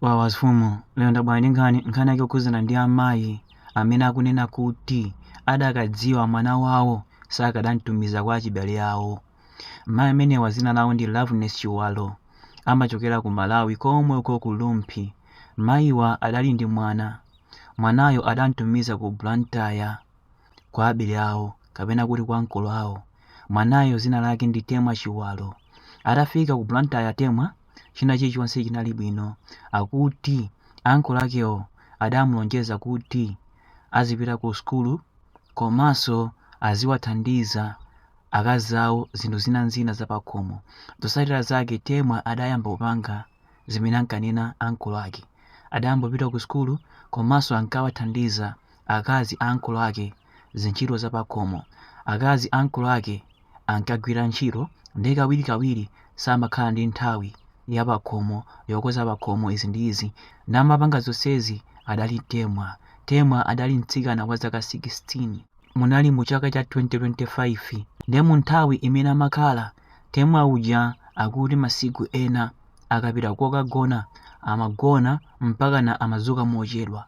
Wawa mfumu, lero ndabwera ndi nkhani, nkhani yake yokhudzana ndi amayi amene akunena kuti adakadziwa mwana wawo sakadamtumiza kwa achibale awo. Mayi amenewa dzina lawo ndi Loveness Chiwalo, amachokera ku Malawi komwe uko ku Rumphi. Mayiwa adali ndi mwana, mwanayo adamtumiza ku Blantyre kwa abale awo kapena kuti kwa uncle awo. Mwanayo dzina lake ndi Temwa Chiwalo. Atafika ku Blantyre, Temwa. china chilichonse chinali bwino. Akuti uncle akewo adamulonjeza kuti azipita ku sukulu komanso aziwathandiza akazi awo zinthu zina ndi zina zapakhomo. Zotsatira zake Temwa adayamba kupanga zimene ankanena uncle ake. Adayambopita ku sukulu komanso ankawathandiza akazi a uncle ake zintchito zapakhomo. Akazi a uncle ake. ankagwira ntchito ndiye kawirikawiri samakhala ndi nthawi yapakhomo yokonza pakhomo izi ndi izi ndiye amapanga zonsezi adali temwa temwa adali mtsikana wa zaka 16 munali mu chaka cha 2025 ndiye mu nthawi imene amakhala temwa uja akuti masiku ena akapita kokagona amagona mpakana amadzuka mochedwa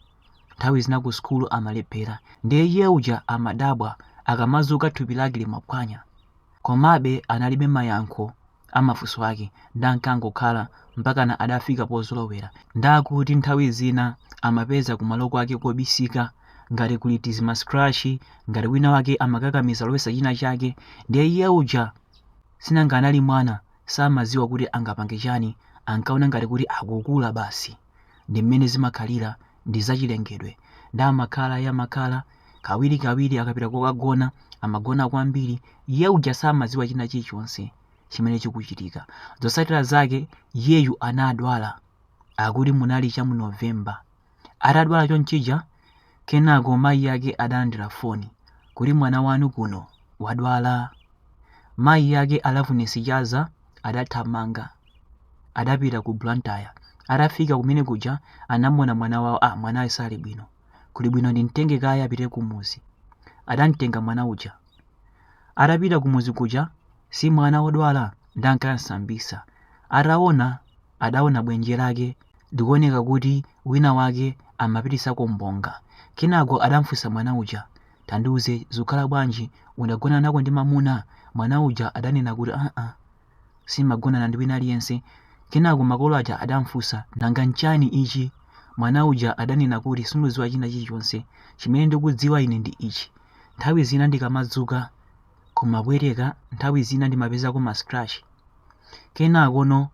Nthawi zina ku sukulu amalephera, ndiye iye uja amadabwa akamadzuka thupi lake limaphwanya. Komabe analibe mayankho a mafunso ake ndiye ankangokhala mpakana adafika pozolowera. Ndiye akuti nthawi zina amapeza kumalo kwake kobisika ngati kuli tizima scratch, ngati wina wake amakakamiza kulowetsa china chake, ndiye iye uja sinanga anali mwana samadziwa kuti angapange chani ankaona ngati kuti akukula basi. ndi mmene zimakhalira ndi zachilengedwe ndiye amakhala ya amakhala kawirikawiri akapita kokagona amagona kwambiri iye uja samadziwa china chilichonse chimene chikuchitika zotsatira zake iyeyu anadwala akuti munali cha mu novemba atadwala chonchija Kenako mayi ake adalandira foni kuti mwana wanu kuno wadwala. Mayi ake a Loveness Chaza adathamanga. Adapita ku Blantyre. Atafika kumene kuja anamuona mwana wawo, ah mwanayu sali bwino. Kuli bwino ndimtenge kaye apite kumuzi. Adamtenga mwana uja. Atapita kumuzi kuja si mwana wodwala ndiye ankamsambitsa. Ataona adaona bwenje lake likuoneka kuti wina wake amapititsako mbonga. Kenako adamfunsa mwana uja, tandiuze zikukhala bwanji udagonanako ndi mamuna? Mwana uja adanena kuti aa simagonana ndi wina aliyense. Kenako makolo aja adamfunsa nanga nchani ichi? Mwana uja adanena kuti sindikudziwa china chilichonse, chimene ndikudziwa ine ndi ichi, nthawi zina ndikamadzuka, kumabwereka nthawi zina ndimapezako ma scratch kenakono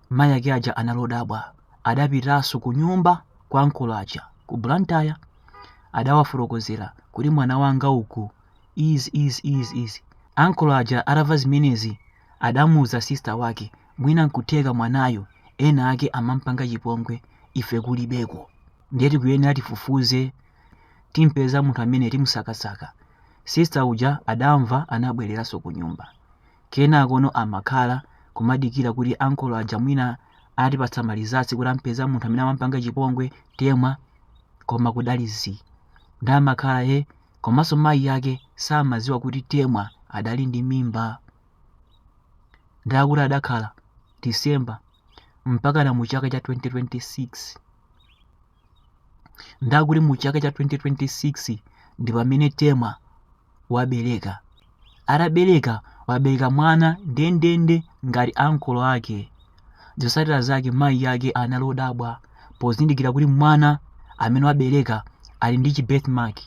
mayi ake aja analodabwa adapitanso ku nyumba kwa ankolo aja ku blantyre adawafotokozera kuti mwana wanga uku izi izi izi izi ankolo aja atamva zimenezi adamuuza sista wake mwina nkutheka mwanayo ena ake amampanga chipongwe ife kulibeko ndiye tikuyenera tifufuze timpeze munthu amene timusakasaka sister uja adamva anabwereranso kunyumba kenakono amakhala kumadikira kuti ankolo aja mwina atipatsa malizatsi kuti ampeza munthu amene amampanga chipongwe temwa koma kudali zii ndamakhala iye komanso mayi yake samaziwa kuti temwa adali ndi mimba ndakuti adakhala december mpaka na mu chaka cha 2026 ndakuti mu chaka cha 2026 ndi pamene temwa wabereka atabereka wabereka mwana ndendende ngati ankolo ake zotsatira zake mayi yake anali odabwa pozindikira kuti mwana amene wabereka ali ndi chibirth mark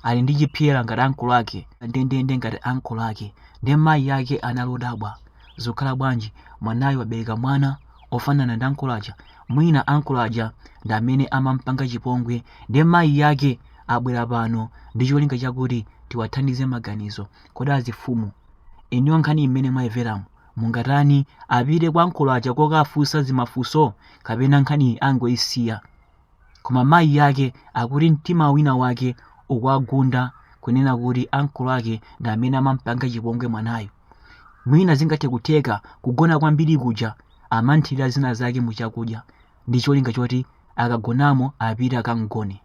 ali ndi chipyera ngati ankolo ake ndendende ngati ankolo ake ndiye mayi yake anali odabwa zokhala bwanji mwanayo wabereka mwana ofanana ndi ankolo aja mwina ankolo aja ndi amene amampanga chipongwe ndiye mayi yake abwera pano ndi cholinga chakuti tiwathandize maganizo kodi azifumu iniyo nkhani mmene mwayimveramu mungatani apite kwa ankolo aja kokafunsa zimafunso kapena nkhani angoyisiya Koma mayi yake akuti mtima wina wake ukuwagunda kunena kuti ankolo ake ndi amene amampanga chipongwe mwanayo. Mwina zingathe kutheka kugona kwambiri kuja amamthirira zina zake mu chakudya ndi cholinga choti akagonamo apite akamgone.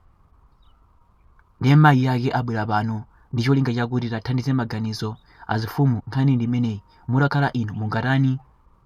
Ndiye mayi yake abwera pano ndi cholinga chakuti tathandize maganizo azifumu nkhani ndi imeneyi mutakhala inu mungatani?